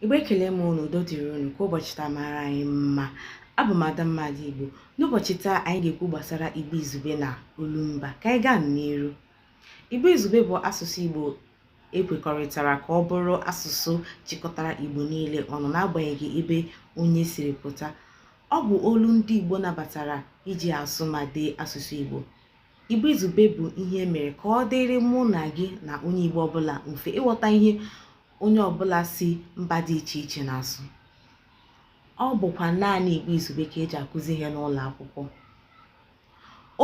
igbo ekele m unu udo dịrị unu ka ụbọchị taa mara anyị mma abụ m ada mmadụ igbo n'ụbọchị taa anyị ga-ekwu gbasara igbo izugbe na olumba ka anyị gaa n'iru igbo izugbe bụ asụsụ igbo e kwekọrịtara ka ọ bụrụ asụsụ chịkọtara igbo niile ọnụ n'agbanyeghị ebe onye siri pụta ọ bụ olu ndị igbo nabatara iji asụ ma dee asụsụ igbo igbo izugbe bụ ihe e mere ka ọ dịrị mụ na gị na onye igbo ọbụla mfe ịghọta ihe onye ọbụla si mba dị iche iche na-asụ ọ bụkwa naanị Igbo Izugbe ka e ji akụzi ihe n'ụlọ akwụkwọ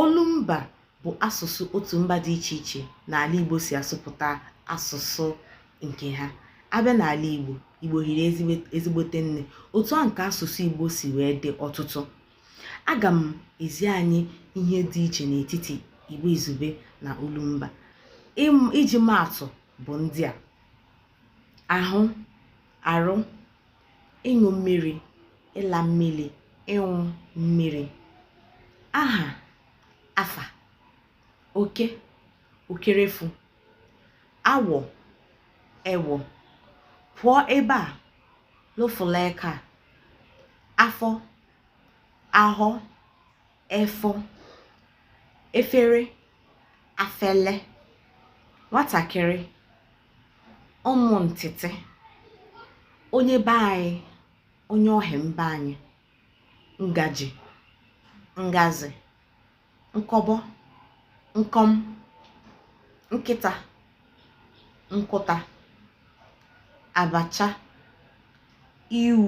olumba bụ asụsụ otu mba dị iche iche n'ala Igbo si asụpụta asụsụ nke ha a bịa n'ala Igbo Igbo hiri ezigbote nne otu a ka asụsụ Igbo si wee dị ọtụtụ aga m ezi anyị ihe dị iche n'etiti Igbo Izugbe na olumba iji maa atụ bụ ndị a ahụ arụ ịṅụ mmiri ịla mmili ịṅụ mmiri aha afa oke okerefu awọ ewọ pụọ ebe a lụfụla aka afọ ahọ efọ efere afele nwatakịrị ụmụ ntịtị onye be anyị onye ọhịa mba anyị ngaji ngazi nkọbọ nkọm nkịta nkụta abacha iwu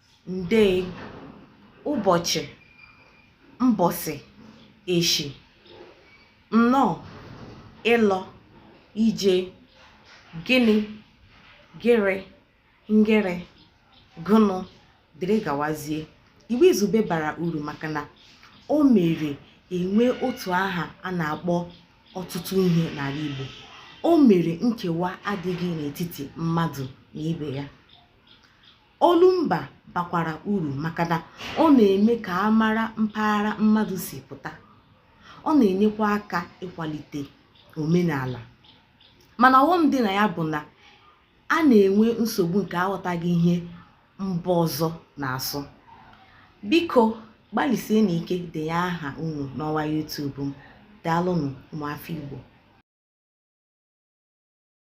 nde ụbọchị mbọsị eshi nnọọ ịlọ ije gịnị gịrị ngịrị gụnụ dịrị gawazie igbo izugbe bara uru maka na o mere e nwee otu aha a na-akpọ ọtụtụ ihe n'ala Igbo o mere nkewa adịghị n'etiti mmadụ na ibe ya Olumba bakwara uru maka na ọ na-eme ka a mara mpaghara mmadụ si pụta. Ọ na-enyekwa aka ịkwalite omenala. Mana ọghọm dị na ya bụ na a na-enwe nsogbu nke aghọtaghị ihe mba ọzọ na-asụ. Biko gbalịsienụ ike denye aha unu n'ọwa YouTube m. Daalụnụ ụmụafọ Igbo.